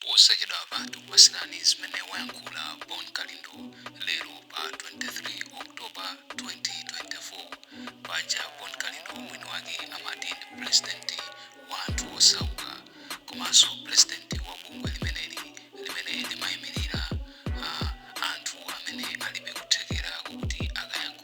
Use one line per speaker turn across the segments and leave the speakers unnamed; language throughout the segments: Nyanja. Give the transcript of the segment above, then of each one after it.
Posachedwapa tikupatsirani zimene wayankhula Bon Kalindo lero pa 23 October 2024. Paja Bon Kalindo mwini wake amati ndi pulezidenti wa anthu osauka komanso pulezidenti wa bungwe limeneli limene limayimirira ah, anthu amene alibe kuthekera kokuti akayankhule.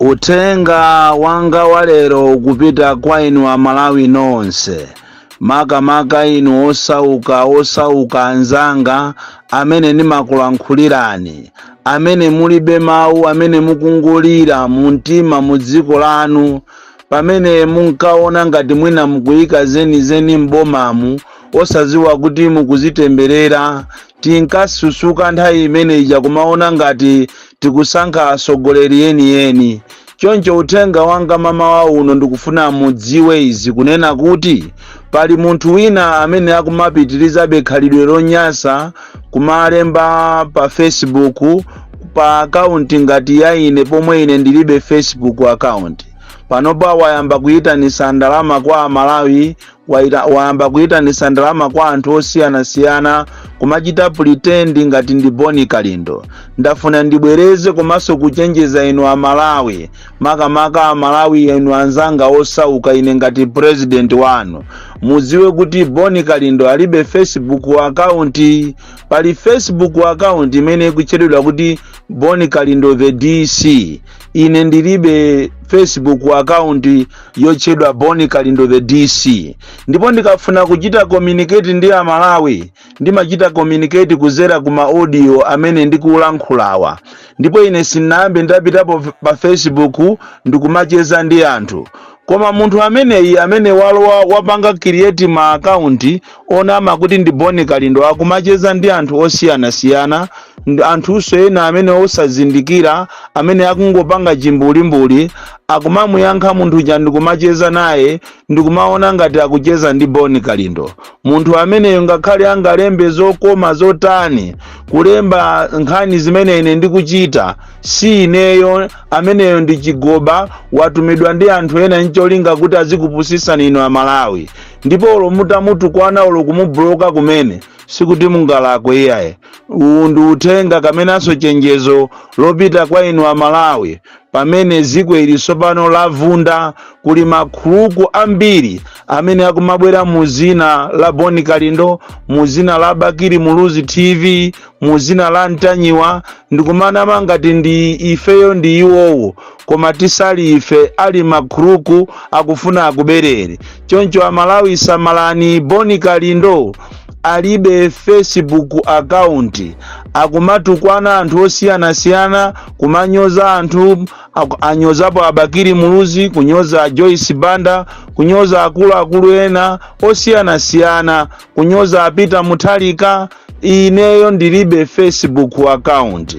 Uthenga
wanga wa lero ukupita kwa inu Amalawi nonse, makamaka inu osauka, osauka anzanga amene ndimakulankhulirani, amene mulibe mawu, amene mukungolira mumtima mu dziko lanu, pamene munkaona ngati mwina mukuyika zenizeni m'bomamu, osadziwa kuti mukuzitemberera Tinkasusuka nthawi imene ija kumaona ngati tikusankha atsogoleri enieni. Choncho uthenga wanga mamawa uno ndikufuna mudziwe izi kunena kuti pali munthu wina amene akumapitirizabe khalidwe lonyasa kumalemba pa Facebook pa akaunti ngati ya ine pomwe ine ndilibe Facebook account. Panopa wayamba kuyitanisa ndalama kwa Amalawi wayamba kuyitanisa ndalama kwa anthu osiyanasiyana kumachita pretend ngati ndi bon kalindo ndafuna ndibwereze komanso kuchenjeza inu amalawi makamaka amalawi inu anzanga osauka ine ngati president wanu mudziwe kuti bon kalindo alibe facebook account pali facebook account imene ikutchedwa kuti bon kalindo the dc ine ndilibe facebook account yotchedwa bon kalindo the dc ndipo ndikafuna kuchita communicate ndi amalawi ndimachita communicate kuzera ku maaudio amene ndikulankhulawa ndipo ine sinayambe ndapitapo pa facebook ndikumacheza ndi anthu Koma munthu ameneyi amene walowa wapanga create ma account onama kuti ndi Bon Kalindo akumacheza ndi anthu osiyanasiyana anthunso ena amene osazindikira amene akungopanga chimbulimbuli akumamuyankha munthu uja ndikumacheza naye ndikumaona ngati akucheza ndi Bon Kalindo. Munthu ameneyo ngakhale angalembe zokoma zotani kulemba nkhani zimene ine ndikuchita si ineyo ameneyo ndi chigoba watumidwa ndi anthu ena ncholinga kuti azikupusisani inu amalawi ndipo olo mutamutukwana olo kumubuloka kumene sikuti mungalakwe iyaye uwu ndi uthenga kamenanso chenjezo lopita kwa inu amalawi pamene dziko ili tsopano lavunda kuli makhuluku ambiri amene akumabwera mu zina la bon kalindo mu zina la bakili muluzi tv mu dzina la mtanyiwa ndikumanama ngati ndi ifeyo ndi iwowo koma tisali ife ali mkhuluku akufuna akubereni choncho amalawi samalani bon kalindo alibe facebook account akumatukwana anthu osiyanasiyana kumanyoza anthu anyozapo abakiri muluzi kunyoza joyce banda kunyoza akuluakulu ena osiyanasiyana kunyoza a peter mutharika ineyo ndilibe facebook account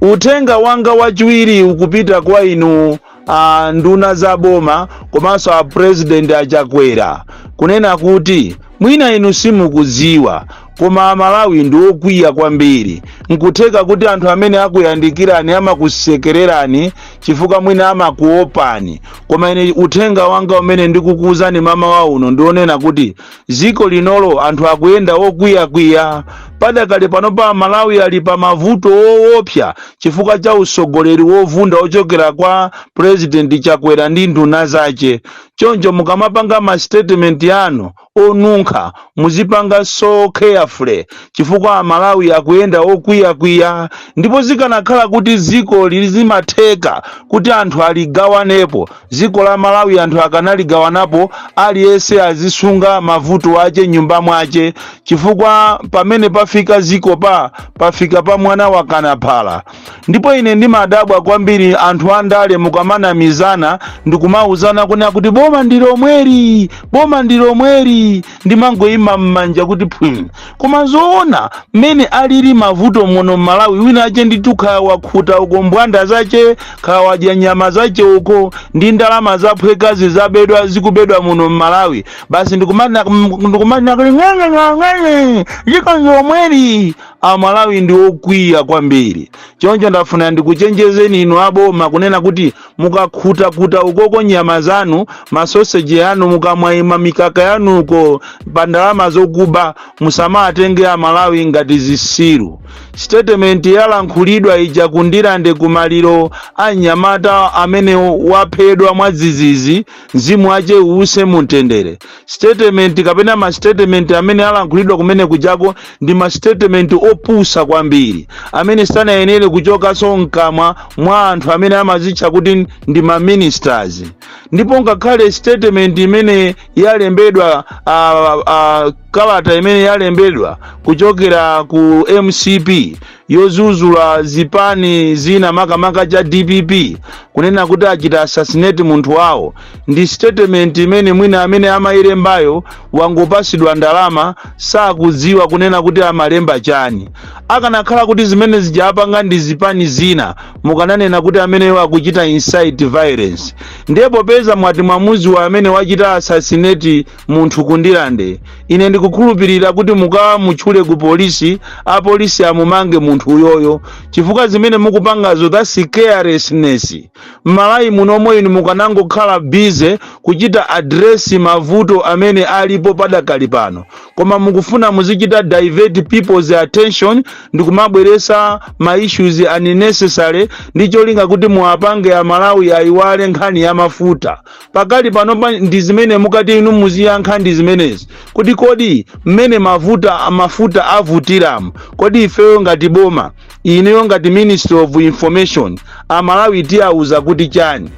uthenga wanga wachiwiri ukupita kwa inu a nduna za boma komanso a president achakwera kunena kuti mwina inu simukudziwa koma amalawi ndi okwiya kwambiri nkutheka kuti anthu amene akuyandikirani amakusekererani chifukwa mwina amakuopani koma ine uthenga wanga umene ndikukuwuzani mmawa uno ndi onena kuti ziko linolo anthu akuyenda okwiyakwiya padakali panopa amalawi ali pa mavuto owopsa chifukwa cha usogoleri wovunda ochokera kwa purezidenti chakwera ndi nduna zace choncho mukamapanga ma statement yanu onunkha muzipanga so carefully chifukwa amalawi akuyenda okwiya kwiya ndipo zikanakhala kuti ziko ili zimatheka kuti anthu aligawanepo ziko la malawi anthu akanaligawanapo aliyese azisunga mavuto ache m'nyumba mwache chifukwa pamene pafika ziko pa pafika pa mwana wakana phala ndipo ine ndimadabwa kwambiri anthu andale mukamanamizana ndikumauzana kunena kuti boma ndi lomweli boma ndi lomweli ndimangoyima m'manja kuti phwim koma zoona mmene alili mavuto muno m'malawi wina ache ndithu kaya wakhuta uko mbwanda zache kaya wadya nyama zache uko ndi ndalama zaphwekazi zabedwa zikubedwa muno m'malawi basi ndikumanena ndikumanena kuti ng'eng'eng'eng'eng'e ziko ndi lomweli amalawi ndi okwiya kwambiri choncho ndafuna ndikuchenjezeni inu aboma kunena kuti mukakhutakhuta ukoko nyama zanu masoseji yanu mukamwaimwa mikaka yanuko pa ndalama zokuba musamawatenge amalawi ngati zisiru statement yalankhulidwa ija kundirande kumaliro a mnyamata amene waphedwa mwadzidzidzi Mzimu wache uuse mu mtendere. Statement kapena ma statement amene alankhulidwa kumene kujako ndi ma statement opusa kwambiri amene sanayenere kuchokaso mkamwa mwa anthu amene amazitcha kuti ndi ma ministers. Ndipo ngakhale statement imene yalembedwa uh, uh, kalata imene yalembedwa kuchokera ku mcp yozuzula zipani zina makamaka cha dpp kunena kuti achita assassinate munthu wawo ndi statement imene mwina amene amayilembayo wangopasidwa ndalama sakudziwa kunena kuti amalemba chani akanakhala kuti zimene zija apanga ndi zipani zina mukananena kuti ameneyo akuchita incite violence ndiye popeza mwati mwamuziwa amene wachita assassinate munthu kundirande ine ndikukhulupirira kuti mukamutchule ku polisi apolisi amumange munthu uyoyo chifukwa zimene mukupangazo that's carelessness m'malawi munomu inu mukanangokhala busy kuchita address mavuto amene alipo padakali pano koma mukufuna muzichita divert people's attention ndi kumabweresa ma issues unnecessary ndi cholinga kuti muwapange amalawi ayiwale nkhani ya mafuta pakali panopa ndi zimene mukati inu muziyankha ndi zimenezi kuti kodi mmene mavuta mafuta avutiramu kodi ifeyo ngati boma ineyo ngati ministry of information amalawi tiyawuza kuti chani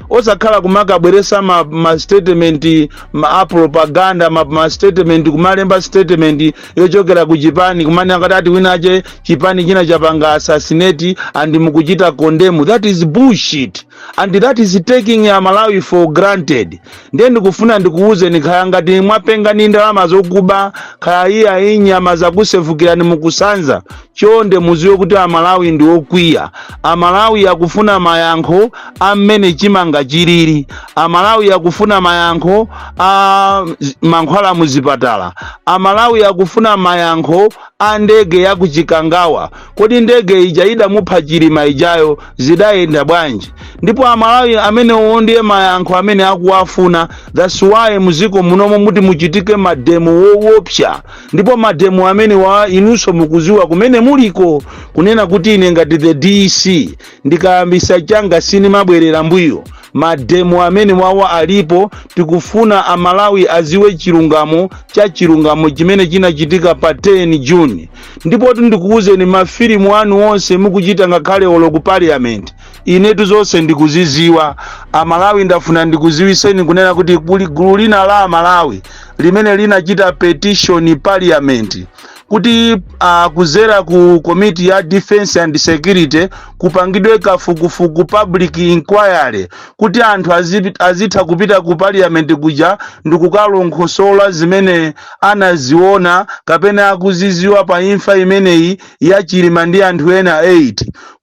osakhala kumakabweresa ma, ma statement ma a propaganda ma, ma statement kumalemba statement yochokera ku chipani kumanena kuti ati winawake chipani china chapanga assassinate and mukuchita condemn that is bullshit and that is taking amalawi for granted ndiye ndikufuna ndikuwuzeni kaya ngati mwapenga ndi ndalama zokuba kaya iya iyi nyama zakusefukirani mukusanza chonde muziwe kuti amalawi ndi okwiya amalawi akufuna mayankho a mmene chimanga chilili amalawi akufuna mayankho a z- mankhwala muzipatala amalawi akufuna mayankho a ndege ya kuchikangawa kodi ndege ija idamupha chilima ijayo zidayenda bwanji ndipo amalawi amenewo ndiye mayankho amene akuwafuna that's why muziko munomo muti muchitike mademo wowopsa ndipo mademo amenewa inunso mukuziwa kumene muliko kunena kuti ine ngati the dc ndikayambisa changa sinimabwerera mbuyo mademo amenewawa alipo tikufuna amalawi aziwe chilungamo cha chilungamo chimene chinachitika pa 10 june ndipotu ndikuwuzeni mafilimu anu onse mukuchita ngakhale olo ku parliament inetu zonse ndikuziziwa amalawi ndafuna ndikuziwiseni kunena kuti kuli gulu lina la amalawi limene linachita petition parliament kuti uh, kuzera ku komiti ya defense and security kupangidwe kafukufuku public inquiry kuti anthu azi- azitha kupita ku parliament kuja ndikukalongosola zimene anaziona kapena akuziziwa pa imfa imeneyi ya Chilima ndi anthu ena 8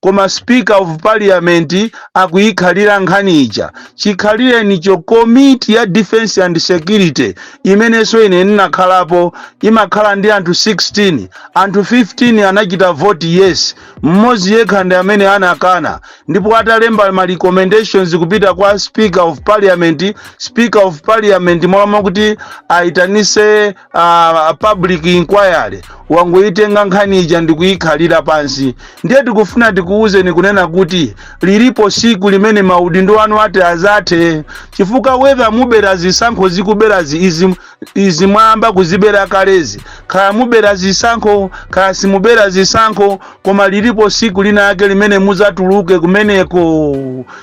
koma speaker of parliament akuyikhalira nkhani ija chikhalirenicho komiti ya defense and security imenenso ine ndinakhalapo imakhala ndi anthu 16 anthu 15 anachita vote yes mmodzi yekha ndi amene anakana ndipo atalemba ma recommendations kupita kwa speaker of parliament speaker of parliament mmalo mwakuti ayitanise uh, public inquiry wangoyitenga nkhani ija ndikuyikhalira pansi ndiye tikufuna tikuwuzeni kunena kuti lilipo siku limene maudindo anu ati azathe chifukwa whether mubera zisankho zikubwerazi izi izi mwayamba kuzibera kalezi kaya mubera zisankho kaya simubera zisankho koma lilipo siku lina yake limene muzatuluke kumeneko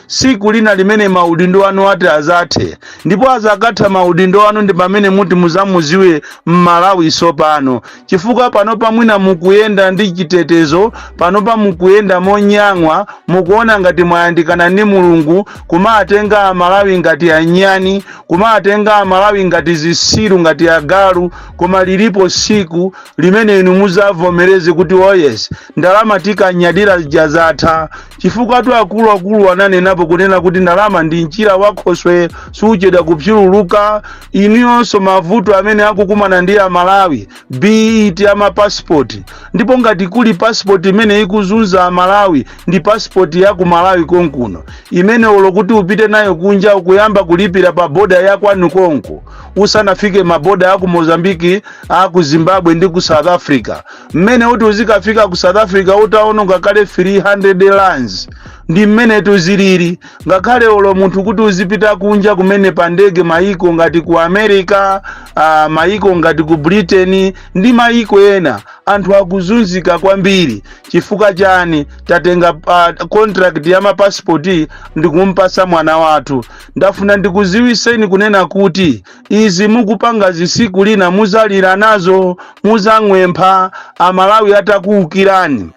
siku lina limene maudindo anu ati azathe ndipo azakatha maudindo anu ndi pamene muti muzamuziwe mmalawi sopano chifukwa panopa mwina mukuyenda ndi chitetezo panopa mukuyenda monyang'wa mukuona ngati mwayandikana ndi mulungu kumatenga amalawi ngati anyani kumatenga amalawi ngati zisiru ngati agalu koma lilipo siku limene inu muzavomereze kuti oh yes ndalama tikanyadira zija zatha chifukwatu akuluakulu ananenapo kunena kuti ndalama ndi mchira wa khoswe suchedwa kupsululuka inuyonso mavuto amene akukumana ndi amalawi be it a mapasipoti ndipo ngati kuli pasipoti imene ikuzunza amalawi ndi pasipoti ya ku malawi konkuno imene olo kuti upite nayo kunja ukuyamba kulipira pa boda ya kwanu konko usanafike maboda aku mozambiki aku zimbabwe ndi ku south africa mmene uti uzikafika ku south africa utaononga kale 300 rands ndi mmenetu zilili ngakhale olo munthu kuti uzipita kunja kumene pa ndege mayiko ngati ku america uh, mayiko ngati ku britain ndi mayiko ena anthu akuzunzika kwambiri chifukwa chani tatenga uh, contract ya mapasipoti ndikumpasa mwana wathu ndafuna ndikuziwiseni kunena kuti izi mukupangazi siku lina muzalira nazo muzang'wempha amalawi atakuukirani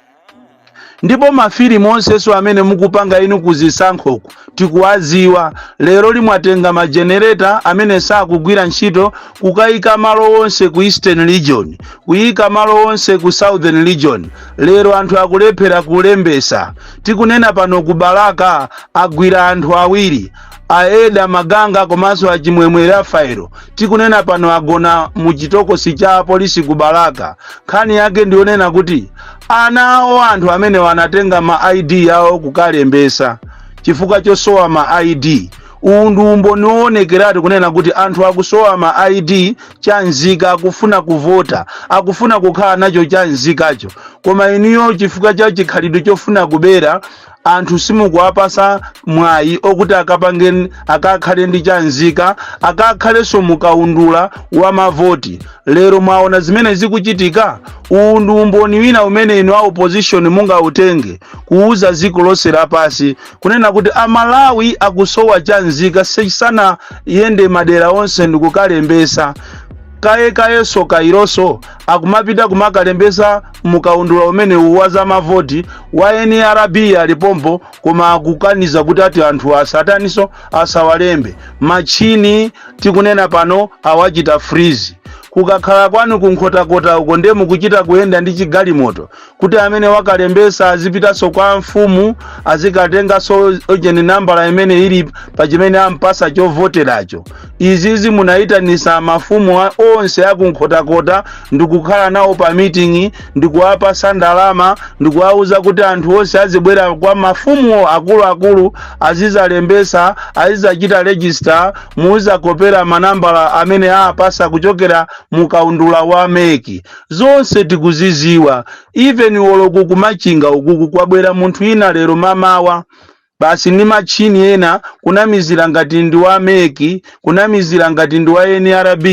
ndipo mafilimu onsenso amene mukupanga inu kuzisankhoku tikuwaziwa leroli mwatenga majenereta amene sakugwira ntchito kukayika malo onse ku eastern region kuyika malo onse ku southern region lero anthu akulephera kulembesa tikunena pano ku balaka agwira anthu awiri a eda maganga komanso a chimwemwe rafaelo tikunena pano agona mu chitokosi cha apolisi ku balaka nkhani yake ndiyonena kuti anawo anthu amenewa anatenga ma id awo kukalembesa chifukwa chosowa ma id uwu ndi umboni woonekeratu kunena kuti anthu akusowa ma id chanzika akufuna kuvota akufuna kukhala nacho chanzikacho koma inuyo chifukwa cha chikhalidwe chofuna kubera anthu simukuwapasa mwayi okuti akapange akakhale ndi chanzika akakhalenso mukaundula wa mavoti lero mwaona zimene zikuchitika uwu ndi umboni wina umene inu a opposition mungautenge kuuza dziko lonse lapasi kunena kuti amalawi akusowa chanzika sanayende madera onse ndikukalembesa kaye kayenso kayiroso akumapita kumakalembesa mukaundula umenewu wa zamavoti a nrb alipompo koma akukaniza kuti ati anthu asataniso asawalembe machini tikunena pano awachita freeze kukakhala kwanu kunkhotakota uko ndiye mukuchita kuyenda ndi chigalimoto kuti amene wakalembesa azipitaso kwa mfumu azikatengaso ojeni nambala imene ili pa chimene ampasa chovoteracho izizi munayitanisa mafumu onse akunkhotakota ndikukhala nawo pa miting'i ndikuwapasa ndalama ndikuwawuza kuti anthu onse azibwera kwa mafumu akuluakulu azizalembesa azizachita rejista muzakopera manambala amene apasa kuchokera mu kaundula wa meki zonse tikuziziwa even olo kumachinga ukuku kwabwera munthu ina lero mamawa Basi ndi matchini ena kunamizira ngati ndi wa mec, kunamizira ngati ndi wa nrb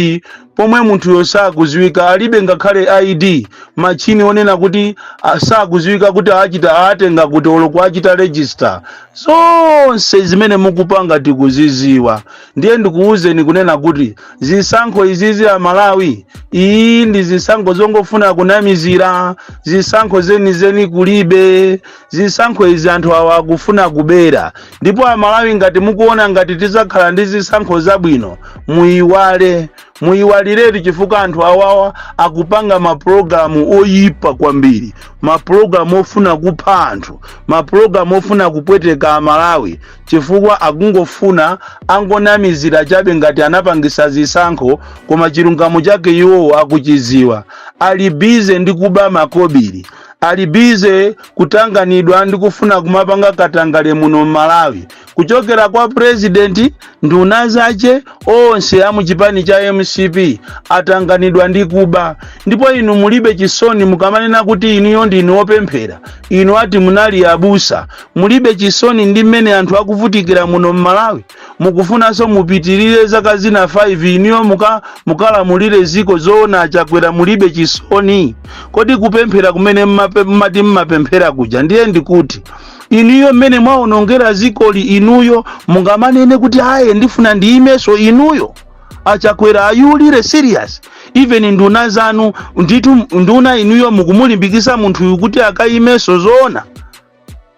pomwe munthuyo sakuziwika alibe ngakhale ID, matchini onena kuti a, sakuziwika kuti aachita aatenga kuti olo kuachita register. Zonse zimene mukupanga tikuziziwa. Ndiye ndikuuzeni kunena kuti zisankho izizi a Malawi, iyi ndi zisankho zongofuna kunamizira, zisankho zenizeni kulibe. zisankho izi anthu awa akufuna kubera ndipo amalawi ngati mukuona ngati tizakhala ndi zisankho zabwino muyiwale muyiwaliretu chifukwa anthu awawa akupanga mapulogalamu oyipa kwambiri mapulogalamu ofuna kupha anthu mapulogalamu ofuna kupweteka amalawi chifukwa akungofuna angonamizira chabe ngati anapangisa zisankho koma chilungamo chake iwowo akuchiziwa ali bize ndi kuba makobiri ali bize kutanganidwa ndi kufuna kumapanga katangale muno m'malawi kuchokera kwa purezidenti nduna zache onse a muchipani cha mcp atanganidwa ndi kuba ndipo inu mulibe chisoni mukamanena kuti inuyo ndinu opemphera inu ati munali abusa mulibe chisoni ndi mmene anthu akuvutikira muno m'malawi mukufunanso mupitirire zaka zina 5 inuyo muka mukalamulire ziko zoona achakwera mulibe chisoni kodi kupemphera kumene mmape- mmati mmapemphera kuja ndiye ndikuti inuyo mmene mwaonongera zikoli inuyo mungamanene kuti aye ndifuna ndiyimeso inuyo achakwera are you really serious even nduna zanu nditu nduna inuyo mukumulimbikisa munthuyu kuti akayimeso zoona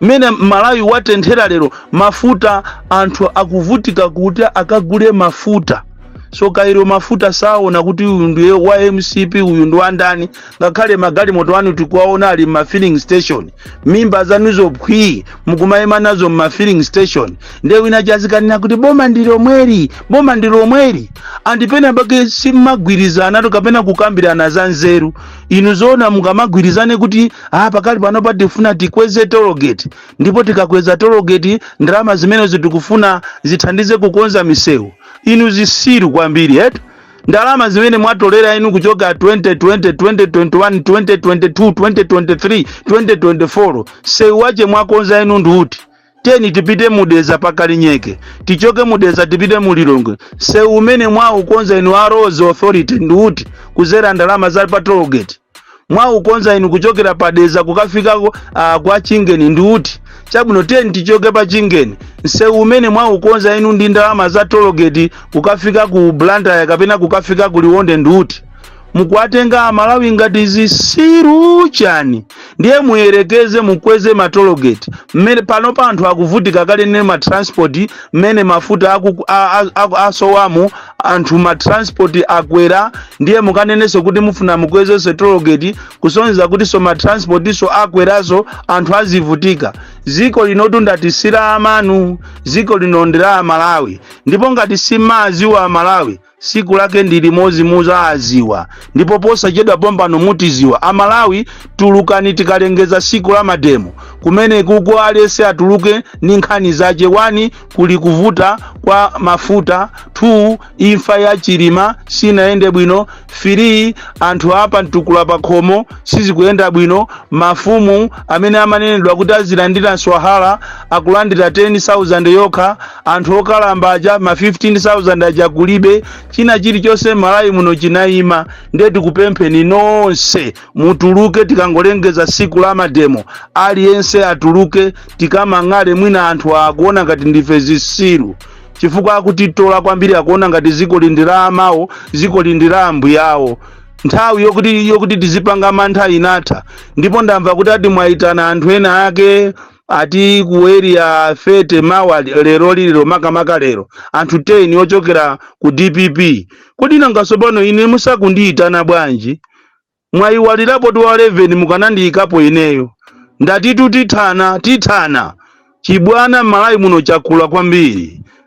mmene malawi watenthera lero mafuta anthu akuvutika kuti akagule mafuta so kairo mafuta saona kuti uyu ndiye wa mcp uyu ndi wandani ngakhale magalimoto anu tikuwaona ali mma filling station mimba zanuzo phwii mukumayima nazo mma filling station ndiye wina chazikanena kuti boma ndi lomweli boma ndi lomweli and penapake simagwirizanatu kapena kukambirana za nzeru inu zoona mungamagwirizane kuti ah, pakali panopa tifuna tikweze tologeti ndipo tikakweza tologeti ndalama zimenezo tikufuna zithandize kukonza misewu inu zisiru kwambiri eti ndalama zimene mwatolera inu kuchoka 2020 2021 2022 2023 2024 sewu wache mwakonza inu ndi uti teni tipite mu dedza pa kalinyeke tichoke mu dedza tipite mu lilongwe sewu umene mwaukonza inu a roads authority ndi uti kuzera ndalama za pa toll gate mwaukonza inu kuchokera pa dedza kukafika ku- ah, kwa chingeni ndi uti chabwino teni tichoke pa chingeni msewu umene mwaukonza inu ndi ndalama za toll gate kukafika ku blantyre kapena kukafika ku liwonde ndi uti mukuwatenga amalawi ngati zisiru chani ndiye muyerekeze mukweze matologeti mmene panopa anthu akuvutika kale ndi matransport mmene mafuta aku- a- a- aku- asowamo anthu matransport akwera ndiye mukanenenso kuti mufuna mukwezenso tologeti kusonyeza kutinso matransportinso akweranso anthu azivutika ziko linotu ndatu si la amanu ziko lino ndi la amalawi ndipo ngati simaziwa amalawi siku lake ndi limodzi muzaaziwa ndipo posachedwa pompano mutiziwa amalawi tulukani tikalengeza siku la mademo kumene kuko aliyese atuluke ndi nkhani zache 1 kuli kuvuta kwa mafuta 2 imfa ya chilima sinayende bwino 3 anthu a pa mtukula pakhomo sizikuyenda bwino mafumu amene amanenedwa kuti azilandira nswahala akulandira 10000 yokha anthu okalamba aja ma 15000 aja kulibe china chilichonse malawi muno chinayima ndiye tikupempheni nonse mutuluke tikangolengeza siku la mademo aliyense atuluke tikamang'ale mwina anthu akuona ngati ndife zisiru chifukwa akutitola kwambiri akuona ngati ziko lindi la amawo ziko lindi la ambuyawo nthawi yokuti yokuti tizipanga mantha inatha ndipo ndamva kuti ati mwayitana anthu ena ake ati ku area 30 mawa lero lilero makamaka lero anthu 10 ochokera ku dpp kodi nanga tsopano ine musakundiyitana bwanji mwayiwalirapo tiwa 11 mukanandiyikapo ineyo ndatitu tithana tithana chibwana m'malawi muno chakula kwambiri